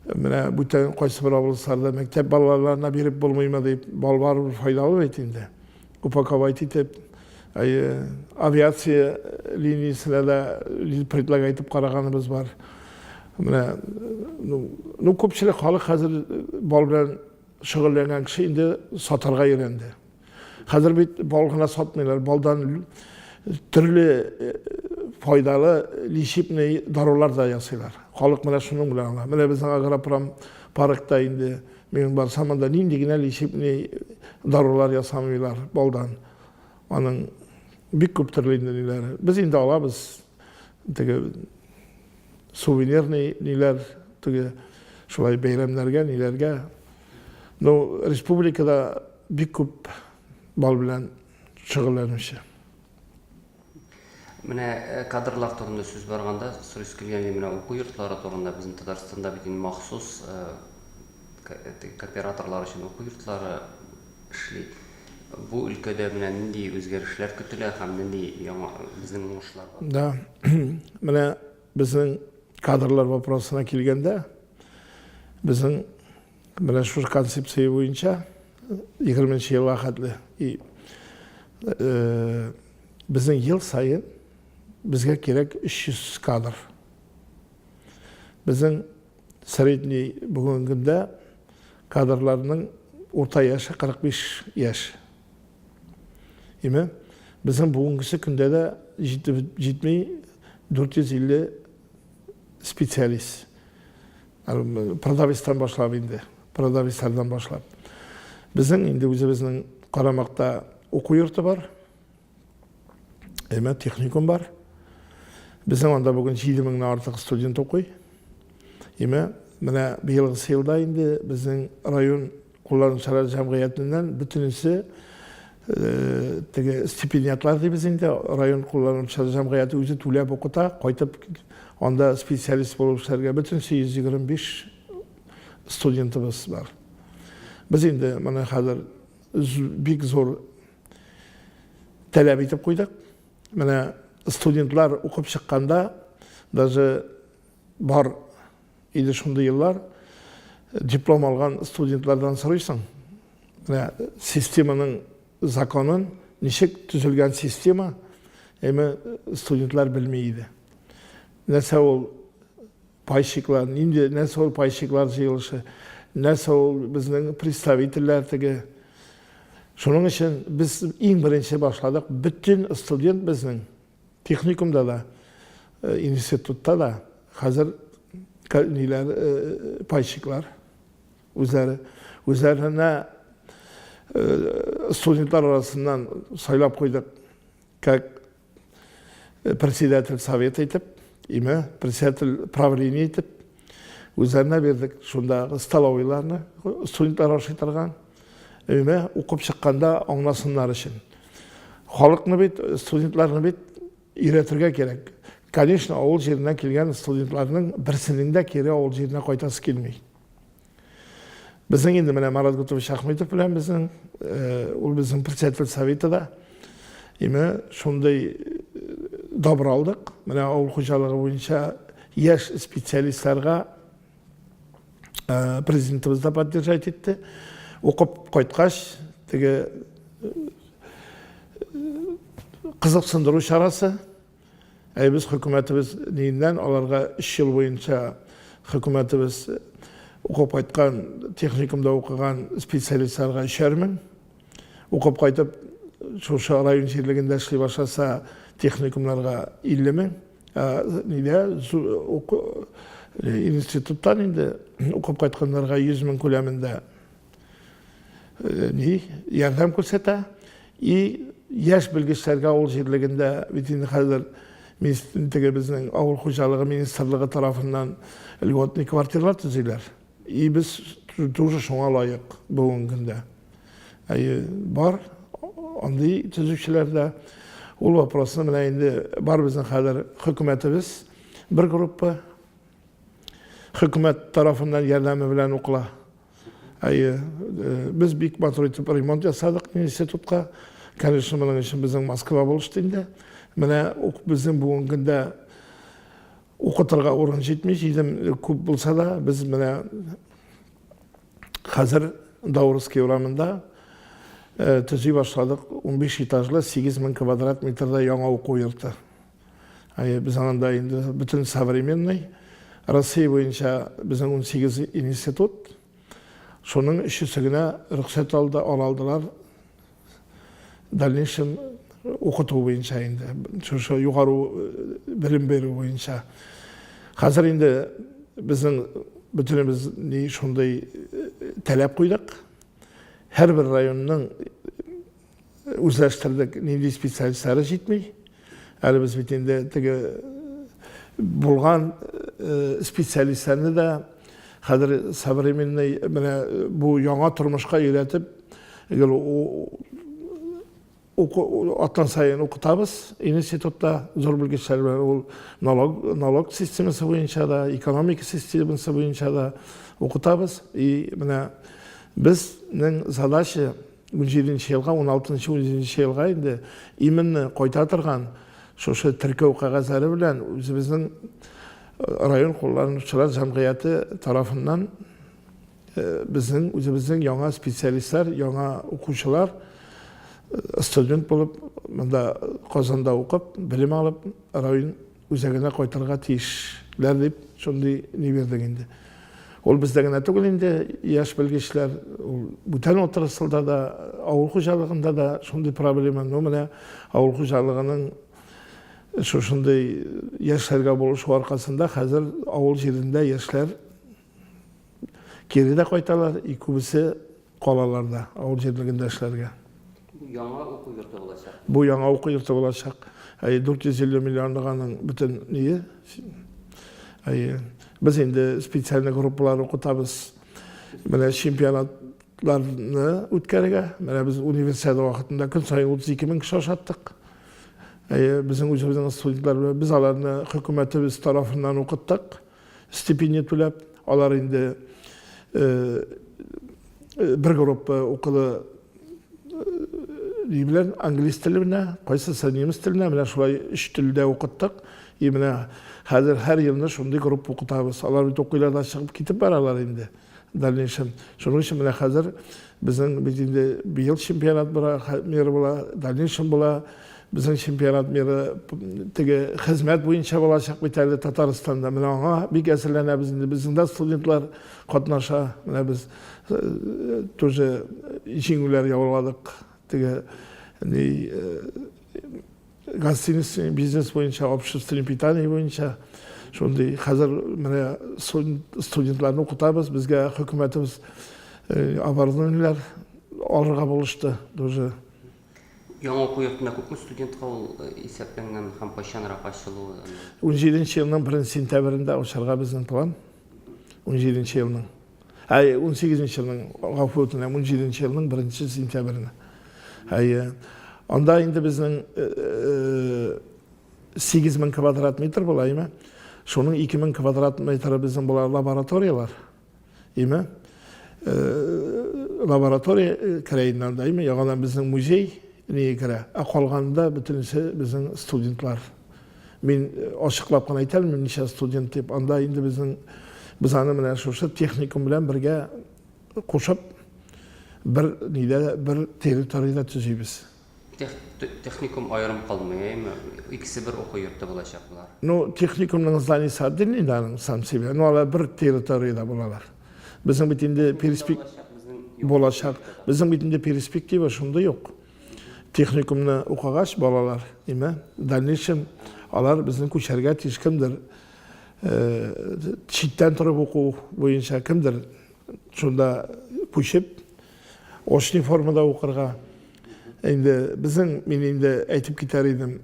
C: Менә бүтән кайсы бер авылларда мәктәп балаларына биреп булмыймы дип, бал бар файдалы бит инде. Упаковать итеп, әйе, авиация линиясенә дә предлагать итеп караганыбыз бар. Менә, ну, ну күпчелек халык хәзер бал белән шөгыльләнгән кеше инде сатарга өйрәнде. Хәзер бит бал гына сатмыйлар, балдан төрле файдалы лечебный дарулар да ясыйлар. Халык менә шуның белән ала. Менә безнең агропром паркта инде Мин барсам, анда нинди генә лечеб, ни дарулар ясамыйлар балдан. Аның бик күп төрле инде ниләр. Без инде алабыз теге сувенирный ниләр, теге шулай бәйрәмнәргә, ниләргә. Ну, республикада бик күп бал белән шөгыльләнүче.
B: Менә кадрлар турында сүз барганда, сорыйсы килгән иде, менә уку йортлары турында безнең Татарстанда бит инде махсус кооператорлар өчен уку йортлары эшли. Бу өлкәдә менә нинди үзгәрешләр көтелә һәм нинди яңа безнең уңышлар бар? Да.
C: Менә безнең кадрлар вопросына килгәндә, безнең Менә шушы концепция буенча 20 нче елга хәтле и э, безнең ел саен безгә кирәк 300 кадр. Безнең средний бүгенге көндә кадрларның урта яше 45 яшь. Име, безнең бүгенгесе көндә дә җитми 450 специалист. Продавецтан башлап инде, продавецлардан башлап. Безнең инде үзебезнең Карамакта уку йорты бар. Әмма техникум бар. Безнең анда бүген 7000 нән артык студент укый. Әмма менә быелгысы елда инде безнең район Кулланучылар җәмгыятеннән бөтенесе теге стипендиатлар дибез инде, район кулланучылар җәмгыяте үзе түләп укыта, кайтып анда специалист булып эшләргә бөтенесе 125 студентыбыз бар. Без инде моны хәзер бик зур таләп итеп куйдык. Менә студентлар укып чыкканда даже бар Инде шундый еллар диплом алган студентлардан сорыйсың, менә системаның законын, ничек төзелгән система, әмма студентлар белми иде. Нәрсә ул пайщиклар, нинди нәрсә ул пайщиклар җыелышы, нәрсә ул безнең представительләр теге. Шуның өчен без иң беренче башладык, бөтен студент безнең Техникумда да, институтта да хәзер ниләр, пайщиклар үзләре. Үзләренә студентлар арасыннан сайлап куйдык, как председатель совета итеп, име, председатель правления итеп, Үзләренә бирдек шундагы столовыйларны, студентлар ашый торган. Өймә укып чыкканда аңласыннар өчен. Халыкны бит, студентларны бит өйрәтергә кирәк. Конечно, авыл җиреннән килгән студентларның берсенең дә кире авыл җиренә кайтасы килми. Безнең инде менә Марат Гутович Ахметов белән безнең, ул безнең председатель советы да. Име, шундый добро алдык. Менә авыл хуҗалыгы буенча яшь специалистларга президентыбыз да поддержать итте. Укып кайткач, теге кызыксындыру чарасы Әй без хөкүмәтебез ниеннән аларга өч ел буенча хөкүмәтебез укып кайткан, техникумда укыган специалистларга өчәр мең, укып кайтып шушы район җирлегендә эшли башласа техникумнарга илле мең, ә нидә институттан инде укып кайтканнарга йөз мең күләмендә. ни ярдәм күрсәтә. И яшь белгечләргә авыл җирлегендә бит инде хәзер теге безнең авыл хуҗалыгы министрлыгы тарафыннан льготный квартирлар төзиләр. И без тоже шуңа лаек бүгенге көндә. Әйе, бар андый төзүчеләр дә. Ул вопросны менә инде бар безнең хәзер хөкүмәтебез бер группа хөкүмәт тарафыннан ярдәме белән укыла. Әйе, э, без бик матур итеп ремонт ясадык институтка. Конечно, моның өчен безнең Москва булышты инде. Менә ук безнең бүгенге көндә укытырга урын җитми, җидем күп булса да, без менә хәзер Даурский урамында э, төзи башладык 15 этажлы 8000 квадрат метрда яңа уку йорты. Без анда инде бөтен современный Россия буенча безнең 18 институт, шуның өчесе генә рөхсәт алды, алалдылар дальнейшем укыту буенча инде, шушы югару белем бирү буенча. Хәзер инде безнең бөтенебез ни шундый таләп куйдык. Һәрбер районның Үзләштердек, нинди специалистлары җитми. Әле без бит инде теге булган специалистларны да хәзер современный менә бу яңа тормышка өйрәтеп гел аттан сайын укытабыз институтта зур белгечләр белән ул налог налог системасы буенча да экономика системасы буенча да укытабыз и менә безнең задача Унҗиденче елга, уналтынчы, унҗиденче елга инде именно кайта торган шушы теркәү кәгазьләре белән үзебезнең район кулланучылар җәмгыяте тарафыннан безнең үзебезнең яңа специалистлар, яңа укучылар студент булып, монда Казанда укып, белем алып, район Үзәгенә кайтырга тиешләр дип шундый ни бирдек инде. Ул бездә генә түгел инде, яшь белгечләр, ул бүтән отрасльда да, авыл хуҗалыгында да шундый проблема. Ну, менә авыл хуҗалыгының шушындый яшьләргә булышу аркасында хәзер авыл җирендә яшьләр Кире дә кайталар, и күбесе калаларда, авыл җирлегендә эшләргә.
B: Бу яңа уку йорты
C: булачак. Бу яңа уку йорты булачак. Әй 450 миллионлык аның бөтен ние. Әй без инде специальный группалар укытабыз. Менә чемпионатларны үткәрергә. Менә без универсиада вакытында көн саен 32 мең кеше ашаттык. Әй безнең үзебезнең студентлар без аларны хөкүмәтебез тарафыннан укыттык. стипендия түләп, алар инде бер группа укыды ни белән англис теле белән кайсысы немец теле белән менә шулай өч телдә укыттык и менә хәзер һәр елны шундый группа укытабыз алар бит укыйлар да чыгып китеп баралар инде дальнейшем. Шуның өчен менә хәзер безнең бит инде быел чемпионат була, мир була, дальнейшем була. Безнең чемпионат миры теге хезмәт буенча булачак бит әле Татарстанда. Менә аңа бик әзерләнәбез инде. Безнең дә студентлар катнаша. Менә без э, тоже җиңүләр яуладык. Теге ни э, Гостиниц бизнес буенча, общественное питание буенча шундый хәзер менә студентларны укытабыз, безгә хөкүмәтебез э, оборудованиеләр алырга булышты. Тоже
B: Яңа уку йортына күпме студентка ул э, исәпләнгән һәм кайчанрак ачылуы? 17 елның
C: 1 сентябрендә ачарга безнең план. 17 елның. Әй, 18 нче елның, гафу үтенәм, 17 нче елның 1 сентябренә. Әйе. Анда инде безнең 8 мең квадрат метр була, име? Шуның 2 мең квадрат метры безнең була лабораториялар. Име? Лаборатория керәйеннән да, име? Яңадан безнең музей не керә. Ә калганда бөтенесе безнең студентлар. Мин э, ачыклап кына әйтә алмыйм ничә студент дип. Анда инде безнең без аны менә шушы техникум белән бергә кушып бер нидә бер территорияда төзибез.
B: Техникум аерым калмый, әйме? Икесе бер уку йорты булачак булар. Ну, техникумның
C: зданиесе отдельный да сам себе, но алар бер территорияда булалар. Безнең бит инде перспектива булачак. Безнең бит инде перспектива шундый ук. Техникумны укыгач, балалар, имә, в дальнейшем алар безнең күчәргә тиеш кемдер читтән торып уку буенча кемдер шунда күчеп очный формада укырга инде безнең мин инде әйтеп китәр идем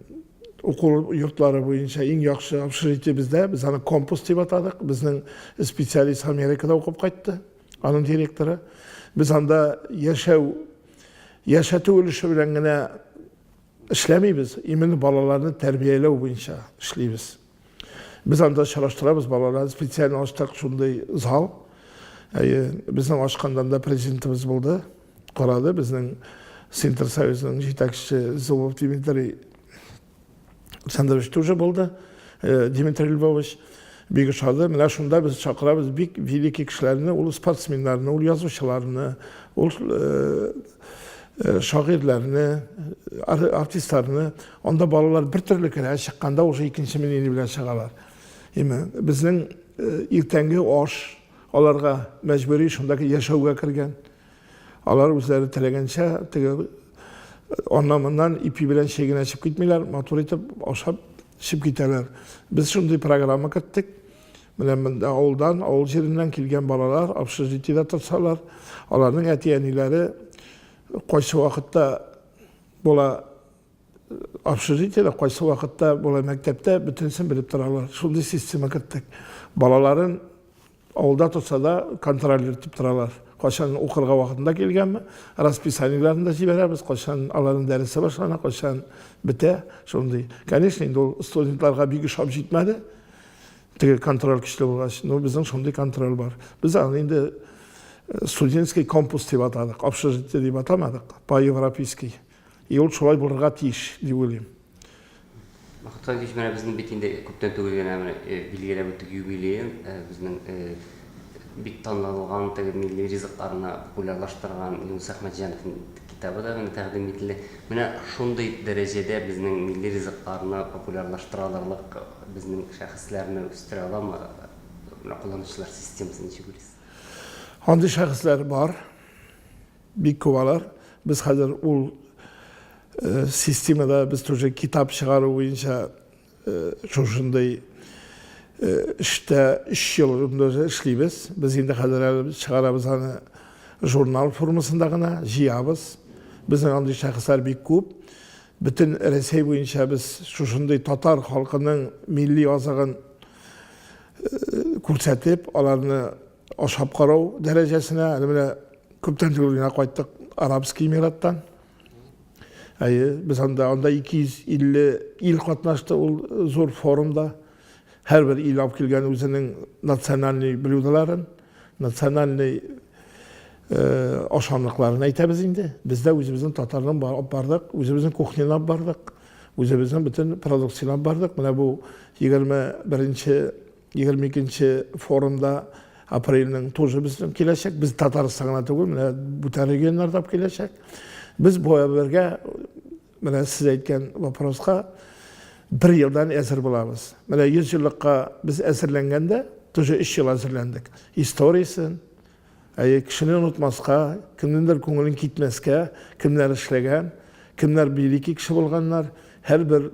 C: уку йортлары буенча иң яхшы общежитие бездә без аны компас дип атадык безнең специалист америкада укып кайтты аның директоры. Без анда яшәү, яшәтү өлеше белән генә эшләмибез, именно балаларны тәрбияләү буенча эшлибез. Без анда очраштырабыз балаларны, специаль ачтык шундый зал. Әйе, безнең ачканда да президентыбыз булды, карады, безнең Синтерсоюзның җитәкчесе Зубов Дмитрий Александрович тоже булды, э, Дмитрий Львович бик ошады. Менә шунда без чакырабыз бик великий кешеләрне, ул спортсменнарны, ул язучыларны, ул э, э, шагыйрьләрне, артистларны. Анда балалар бер төрле керә, чыкканда уже икенче мнение белән чыгалар. Име, безнең иртәнге аш аларга мәҗбүри шундагы яшәүгә кергән. Алар үзләре теләгәнчә теге аннан-моннан ипи белән чәй генә эчеп китмиләр, матур итеп ашап эчеп китәләр. Без шундый программа керттек. Менә монда авылдан, авыл җиреннән килгән балалар общежитиедә торсалар, аларның әти-әниләре кайсы вакытта була общежитиедә, кайсы вакытта була мәктәптә, бөтенесен белеп торалар. Шундый система керттек. Балаларын Авылда торса да, контролер итеп торалар. Кайчан укырга вакытында килгәнме, расписаниеләрен дә җибәрәбез, кайчан аларның дәресе башлана, кайчан бетә, шундый. Конечно, инде ул студентларга бик ошап җитмәде. Теге контроль көчле булгач, ну безнең шундый контроль бар. Без аны инде э, студенческий компус дип атадык, общежитие дип атамадык, по-европейский. И ул шулай булырга тиеш дип уйлыйм.
B: Бакытка кич менә безнең бит инде күптән түгел генә менә билгеләп үттек юбилеен, безнең бик танылган теге милли ризыкларны популярлаштырган Юныс Әхмәтҗановның китабы да менә тәкъдим ителде. Менә шундый дәрәҗәдә безнең милли ризыкларны популярлаштыра алырлык безнең шәхесләрне үстерә аламы менә кулланучылар системасы ничек уйлыйсыз? Андый
C: шәхесләр бар. Бик күп алар. Без хәзер ул системада без тоже китап чыгару буенча шушындый эштә өч ел эшлибез. Без инде хәзер әле чыгарабыз аны журнал формасында гына, җыябыз. Безнең андый шәхесләр бик күп. Бөтен Рәсәй буенча без шушындый татар халкының милли азыгын күрсәтеп, аларны Ашап карау дәрәҗәсенә, әле менә күптән түгел генә кайттык Арабский Эмираттан. Әйе, без анда, анда 250 ил катнашты ул зур форумда. Һәрбер ил алып килгән үзенең национальный блюдаларын, национальный э, ашамлыкларын әйтәбез инде. Без дә үзебезнең татарның бардык, үзебезнең кухнялап бардык, үзебезнең бөтен продукциялап бардык. Менә бу 21 Егерме икенче форумда апрельнең тоже безнең киләчәк. Без Татарстан гына түгел, менә бүтән регионнар да киләчәк. Без бергә менә сез әйткән вопроска бер елдан әзер булабыз. Менә 100 еллыкка без әзерләнгәндә, тоже 3 ел әзерләндек. Историясен, Әйе, кешене онытмаска, кемнеңдер күңелен китмәскә, кемнәр эшләгән, кемнәр великий кеше булганнар, һәрбер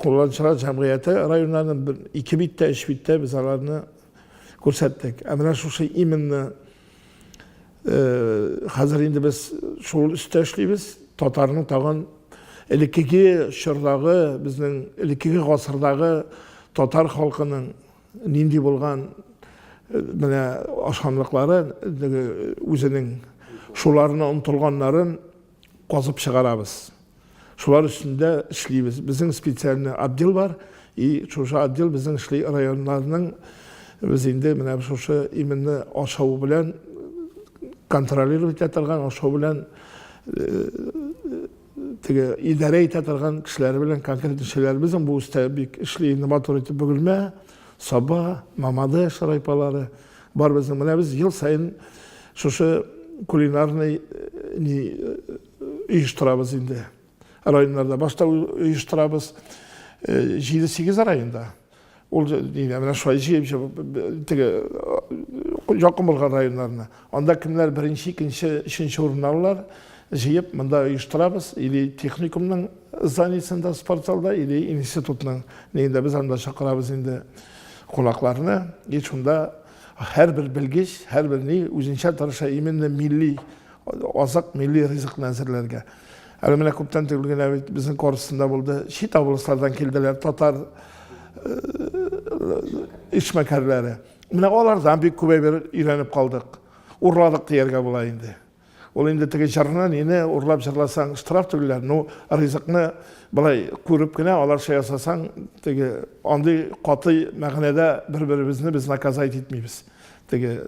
C: кулланучылар җәмгыяте районнарны бер ике биттә, өч биттә без аларны күрсәттек. Ә менә шушы именно хәзер инде без шул өстә эшлибез. Татарның тагын элеккеге чордагы, безнең элеккеге гасырдагы татар халкының Нинди булган менә ашамлыклары үзенең шуларына омтылганнарын казып чыгарабыз. Шулар өстендә эшлибез. Безнең специальный отдел бар, и шушы отдел безнең эшли районнарның без инде менә шушы именно ашау белән контролировать итә торган, ашау белән теге идарә итә торган кешеләре белән конкрет эшчеләребезнең бу өстә бик эшли инде матур итеп бөгелмә саба мамады шырайпалары бар безнең менә без ел саен шушы кулинарный ни оештырабыз инде районнарда башта оештырабыз җиде сигез районда Ул дигән менә шулай җыеп җыеп теге якын булган районнарны. Анда кемнәр беренче, икенче, өченче урын алалар, җыеп монда оештырабыз, или техникумның зданиесендә, спортзалда, или институтның нигендә без анда чакырабыз инде кунакларны. И шунда һәрбер белгеч, һәрбер ни үзенчә тырыша именно милли Азык, милли ризыкны әзерләргә. Әле менә күптән түгел генә бит безнең корпусында булды. Чит областлардан килделәр татар эшмәкәрләре. Менә алардан бик күп әйбер өйрәнеп калдык. Урладык дияргә була инде. Ул инде теге җырны нине урлап җырласаң штраф түлиләр. Ну, ризыкны былай күреп кенә аларча ясасаң, теге андый каты мәгънәдә бер-беребезне без наказать итмибез. Теге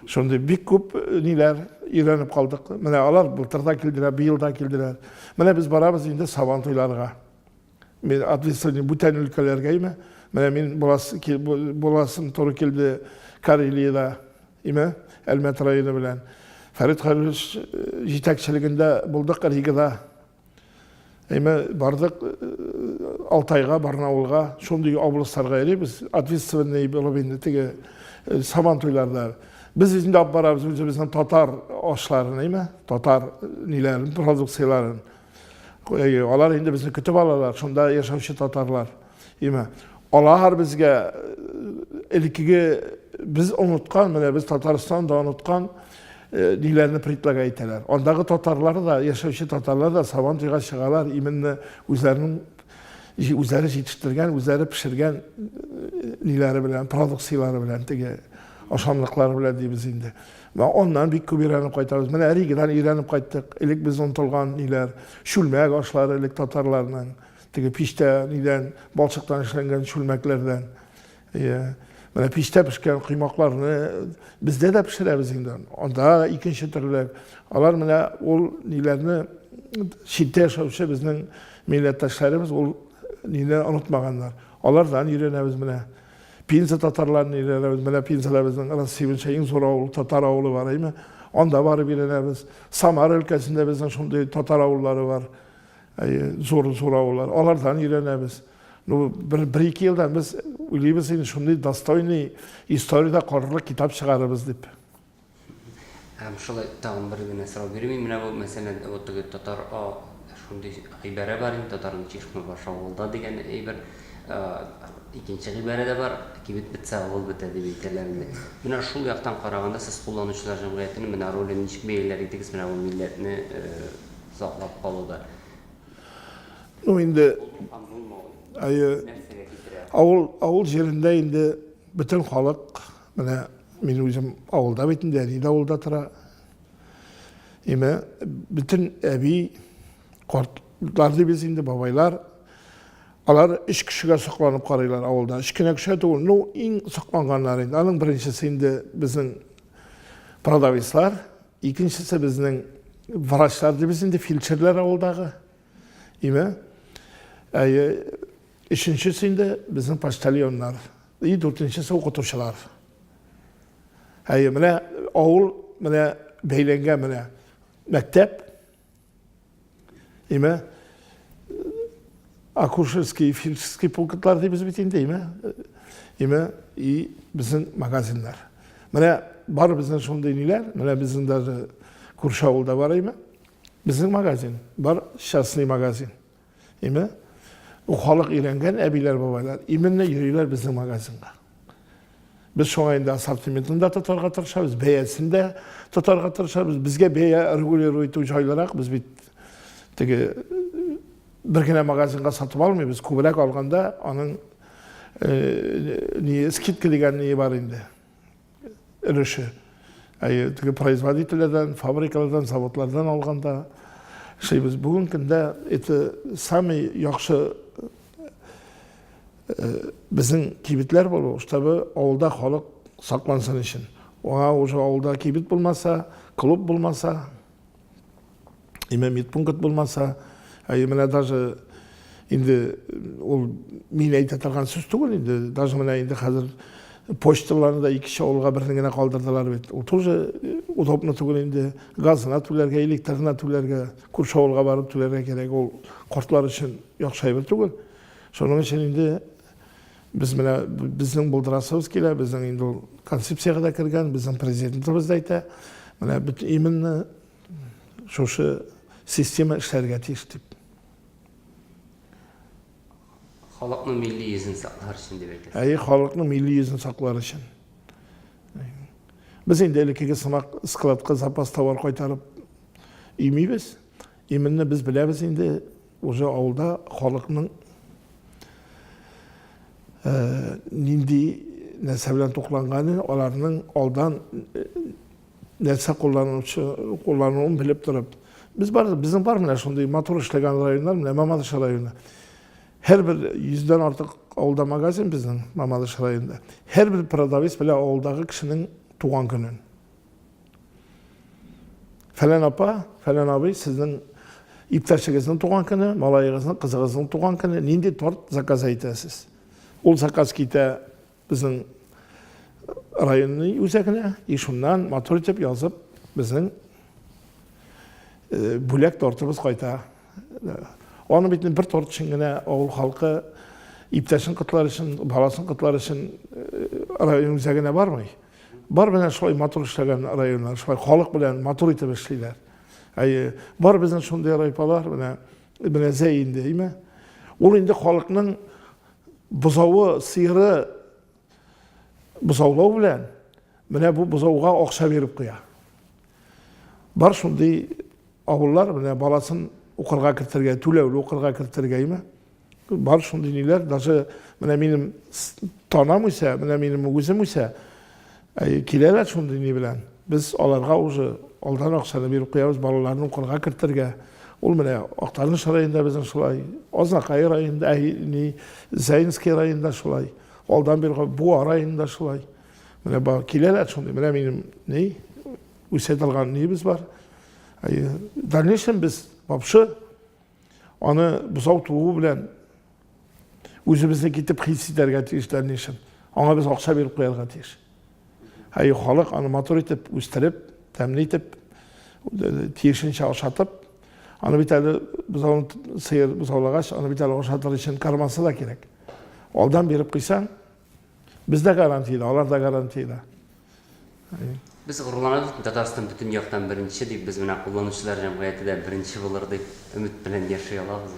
C: Шундый бик күп э, ниләр өйрәнеп калдык. Менә алар былтыр да килделәр, быел да килделәр. Менә без барабыз инде сабан туйларга. Мин атлисыны бүтән өлкәләргә име. Менә мин буласым туры килде Карелиядә, име, Әлмәт районы белән. Фәрит Хәлилович э, җитәкчелегендә булдык Ригада. Әйме бардык э, Алтайга, Барнаулга, шундый областарга йөрибез, ответственный булып инде теге э, сабан туйларда. Без инде алып барабыз үзебезнең татар ашларын, әйме, татар э, ниләрен, продукцияләрен. Алар инде безне көтеп алалар, шунда яшәүче татарлар. Имә, алар безгә элеккеге без оныткан, менә без Татарстан да оныткан ниләрне предлагать итәләр. Андагы татарлар да, яшәүче татарлар да сабан туйга чыгалар, именно үзләренең үзләре җитештергән, үзләре пешергән ниләре белән, продукцияләре белән теге ашамлыклары белән дибез инде. Менә аннан бик күп өйрәнеп кайтабыз. Менә Ригдан өйрәнеп кайттык. Элек без онтылган ниләр, чүлмәк ашлары элек татарларның. Теге пичтә нидән, балчыктан эшләнгән чүлмәкләрдән. Иә. Менә пичтә пешкән коймакларны бездә дә пешерәбез инде. Анда икенче төрле. Алар менә ул ниләрне читтә яшәүче безнең милләттәшләребез ул нине онытмаганнар. Алардан өйрәнәбез менә. Пенза татарларын өйрәнәбез. Менә Пензада безнең Рассивенча иң зур авыл, татар авылы бар, әйме? Анда барып өйрәнәбез. Самар өлкәсендә безнең шундый татар авыллары бар. Зур зур авыллар, алардан өйрәнәбез. Ну, бер, бер ике елдан без уйлыйбыз инде шундый достойный историядә калырлык китап чыгарырбыз дип.
B: Һәм шулай тагын бер генә сорау бирмим. Менә бу мәсәлән, вот теге татар а, шундый гыйбарә бар инде, татарның чишмә бар шавылда дигән әйбер. Икенче гыйбарә дә бар, кибет бетсә, авыл бетә дип әйтәләр инде. Менә шул яктан караганда, сез кулланучылар җәмгыятенең менә ролен ничек бәяләр идегез? Менә бу милләтне саклап калуда. Ну инде
C: әйе авыл авыл җирендә инде бөтен халык менә мин үзем авылда бит инде әни дә авылда тора. Имә бөтен әби картлар дибез инде бабайлар Алар үч кешегә сокланып карыйлар авылда. Үч кенә кешегә түгел. Ну, иң сокланганнар инде. Аның беренчесе инде безнең продавецлар, Икенчесе безнең врачлар дибез инде, фельдшерлар авылдагы. Име? Әйе. Өченчесе инде безнең почтальоннар. И дүртенчесе укытучылар. Әйе, менә авыл менә бәйләнгән менә мәктәп, Име, акушерский, фельдшерский пунктлар дейбез бит инде, име, име, и безнең магазиннар. Менә бар безнең шундый ниләр, менә безнең даже күрше авылда бар име, безнең магазин, бар частный магазин. Әйме? Бу халык өйрәнгән әбиләр, бабайлар. Именно йөриләр безнең магазинга. Без шуңа инде ассортиментын да тотарга тырышабыз, бәясен дә тотарга тырышабыз. Безгә бәя регулировать итү җайлырак, без бит теге бер генә магазинга сатып алмыйбыз, күбрәк алганда аның э, скидка дигән ни бар инде. өлеше. Әйе, теге производительләрдән, фабрикалардан, заводлардан алганда эшлибез. Бүген көндә это самый яхшы э, безнең кибетләр булу, чтобы авылда халык саклансын өчен. Аңа уже авылда кибет булмаса, клуб булмаса, Имә медпункт булмаса, әй менә даже инде ул мин әйтә торган сүз түгел инде, даже менә инде хәзер почталарны да икенче авылга берне генә калдырдылар бит. Ул тоже удобно түгел инде. Газына түләргә, электрына түләргә, күрше авылга барып түләргә кирәк. Ул кортлар өчен яхшы әйбер түгел. Шуның өчен инде Без менә безнең булдырасыбыз килә, безнең инде ул концепциягә дә кергән, безнең президентыбыз да әйтә, менә бит именно шушы система эшләргә тиеш дип.
B: Халыкның милли йөзен саклар өчен дип әйтәсез. Әйе, халыкның милли йөзен
C: саклар өчен. Без инде элеккеге сымак складка запас товар кайтарып имибез. Именно без беләбез инде Уже авылда халыкның нинди нәрсә белән тукланганы, аларның алдан нәрсә кулланучы, куллануын белеп торып. Без бар, безнең бар менә шундый матур эшләгән районнар, менә Мамадыш районы. Һәрбер йөздән артык авылда магазин безнең Мамадыш районында. Һәрбер продавец белә авылдагы кешенең туган көнен. Фәлән апа, фәлән абый, сезнең иптәшегезнең туган көне, малаегызның, кызыгызның туган көне, нинди торт заказ әйтәсез? Ул заказ китә безнең районны үзәгенә, и шуннан матур итеп язып, безнең э, бүләк тортыбыз кайта. Аны бит бер торт өчен генә авыл халкы иптәшен котлар өчен, баласын котлар өчен э, район үзәгенә бармый. Бар белән шулай матур эшләгән районнар, шулай халык белән матур итеп эшлиләр. Әйе, бар безнең шундый райпалар менә менә зәй инде, әйме? Ул инде халыкның бозавы, сыеры бозаулау белән менә бу бозауга акча биреп куя. Бар шундый Авыллар менә баласын укырга кертергә, түләүле укырга кертергәйме? Бар шундый ниләр, даже менә минем танам үсә, менә минем үзем үсә, киләләр шундый ни белән. Без аларга уже алдан акчаны биреп куябыз, балаларны укырга кертергә. Ул менә Актаныш районында безнең шулай, Азнакай районында, ә ни Заинский районында шулай, алдан биргән Буа районында шулай. Менә бар киләләр шундый, менә минем ни Үсә торган нибез бар. Дальнейшем без вообще аны бозау тууы белән үзебезне китеп хис итәргә тиеш дальнейшем. Аңа без акча биреп куярга тиеш. Әй, халык аны матур итеп, үстереп, тәмле итеп, тиешенчә ашатып, аны бит әле бозау сыер бозаулагач, аны бит әле ашатыр өчен кармасы да кирәк. Алдан биреп куйсаң, Без дә гарантиядә, алар да гарантиядә.
B: Без горурланабыз, Татарстан бөтен яктан беренче дип, без менә кулланучылар җәмгыяте дә беренче булыр дип өмет белән яши алабыз.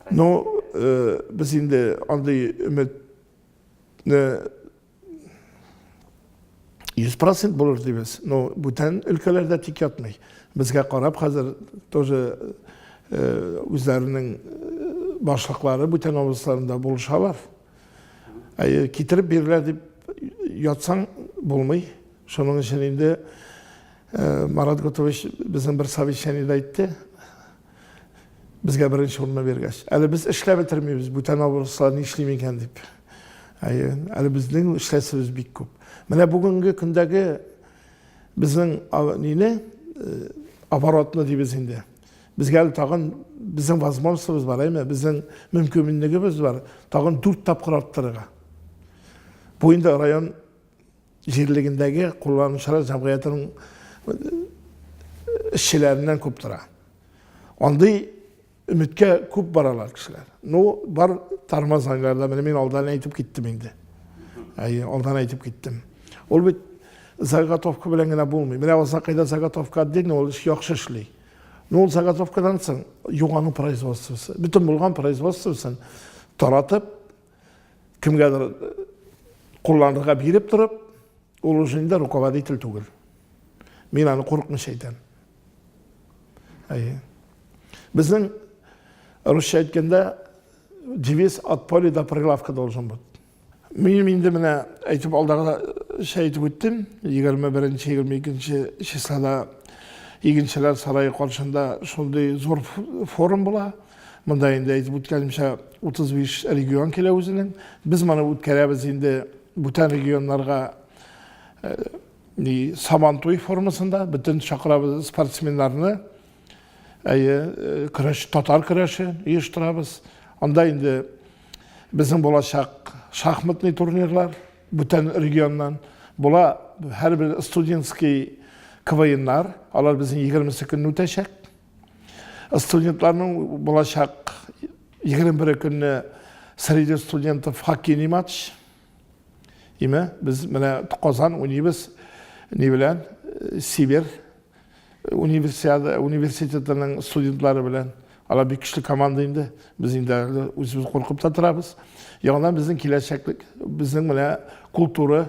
B: Ну,
C: э, без инде андый өметне 100 процент булыр дибез. Но бүтән өлкәләрдә тик ятмый. Безгә карап хәзер тоже э, үзләренең э, башлыклары бүтән областьларында булышалар. Әйе, китереп бирелә дип ятсаң булмый. Шуның өчен инде э, Марат Готович безнең бер совещаниедә әйтте. Безгә беренче урынны биргәч. Әле без эшләп бетермибез, бүтән авырсалар ни эшлим икән дип. Әйе, әле безнең эшләсебез бик күп. Менә бүгенге көндәге безнең нине, э, оборотны дибез инде. Безгә әле тагын безнең возможностыбыз бар, әйме? Безнең мөмкинлегебез бар, тагын 4 тапкыр арттырырга. Бу инде район җирлегендәге кулланучылар җәмгыятенең эшчеләреннән күп тора. Андый өметкә күп баралар кешеләр. Ну, бар Тармаз ангарда, менә мин алдан әйтеп киттем инде. Әйе, алдан әйтеп киттем. Ул бит заготовка белән генә булмый. Менә Азакайда заготовка отдельно ул эш яхшы эшли. Ну, ул заготовкадан соң югану производствосы, бөтен булган производствосын таратып, кемгәдер кулланырга биреп торып, ул уже инде руководитель түгел. Мин аны курыкмыйча әйтәм. Әйе. Безнең русча әйткәндә девиз от поля до прилавка должен быть. Мин инде менә әйтеп алдагы шәй әйтеп үттем, 21-22 числода игенчеләр сарае каршында шундый зур форум була. Монда инде әйтеп үткәнемчә 35 регион килә үзенең. Без моны үткәрәбез инде бүтән регионнарга э, ни Сабантуй формасында бөтен чакырабыз спортсменнарны. Әйе, э, көрәш татар көрәше оештырабыз. Анда инде безнең булачак шахматный турнирлар бүтән регионнан була һәрбер студентский КВНнар, алар безнең 22 көнне үтәчәк. Студентларның булачак 21 көнне среди студентов хоккейный матч. Име, без менә Казан уйныйбыз ни белән? Сибир универсиада университетының студентлары белән. Алар бик көчле команда инде. Без инде әле үзебез куркып та торабыз. Яңадан безнең киләчәклек, безнең менә культура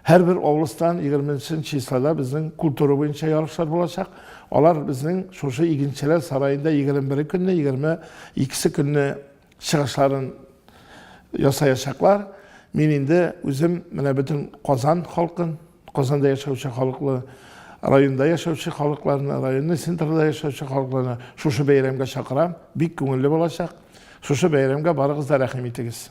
C: Һәрбер облыстан егерме нче числода безнең культура буенча ярышлар булачак. Алар безнең шушы игенчеләр сараенда егерме бере көнне, егерме икесе көнне чыгышларын ясаячаклар. Мин инде үзем менә бөтен Казан халкын, Казанда яшәүче халыклы, районда яшәүче халыкларны, районны центрда яшәүче халыкларны шушы бәйрәмгә чакырам. Бик күңелле булачак. Шушы бәйрәмгә барыгыз да рәхим итегез.